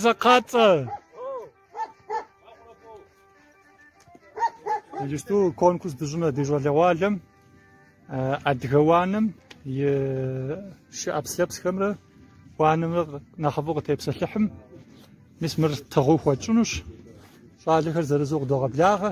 Закъацӏэ. Иджыпсту конкурс дыщӏынэ ди щӏалэгъуалэм адыгэ уанэм и шы ӏэпслъэпсхэмрэ уанэмрэ нэхъыфӏу къытепсэлъыхьым мис мыр тыгъэу хуэтщӏынущ. Щӏалэхэр зырызу къыдогъэблагъэ.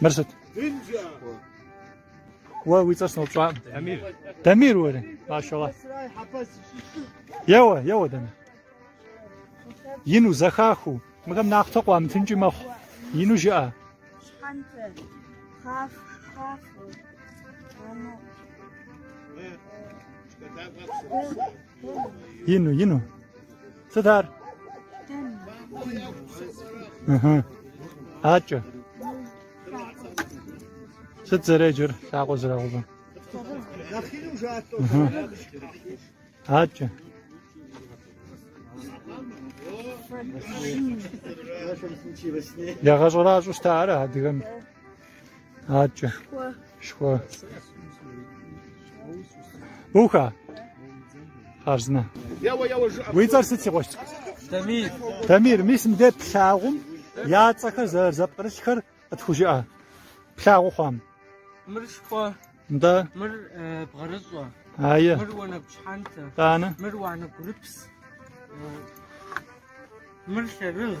Мыр сыт? Уэ уи цӏэр сыноупщӏакъым. Дамир. Дамир уэрэ? Машалла. Еуэ, еуэ Дамир. Ину зэхахыу, мыхэм нахътэ къуамытынкӏи мэхъу. Ину жыӏэ. Щхьэнтэ, хъаф, хъаф. Ано. Ину, ину. Сыт ар? Ыхы. Акӏэ. Сыт зэреджэр лъакъуэ зрагъэувэм? Ыхы. Акӏэ. Ягъэщӏэращӏэу щыта ар адыгэм? Акӏэ. Шхуэ. Буха. Хъарзынэ. Уи цӏэр сыт си къуэщ? Тамир. Тамир, мис мыдэ плъагъум я цӏэхэр зэрызэпкърылъхэр къытхужыӏэ. Плъагъу хъуам. Мыр шхуэ. Да. Мыр э, бгъэрыщӏэ. Айе. Мыр уанэгу щхьэнтэ. Тӏанэ. Мыр уанэгу рыпс. Э, мыр лъэрыгъ.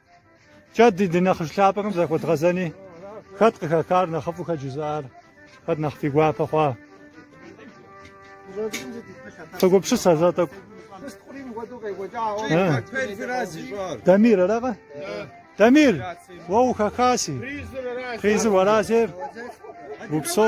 Кӏэ ди ди нэхъыжь лъапӏэхэм захуэдгъэзэни хэт къыхэхар нэхъыфӏу хэт жызыӏар, хэт нэхъ фи гуапэ хъуа. Согупщыс а зэ тӏэкӏу. Дамир аракъэ? Дамир, уэ ухэхаси. Призыр аращи. Призыр уэращи. Упсо.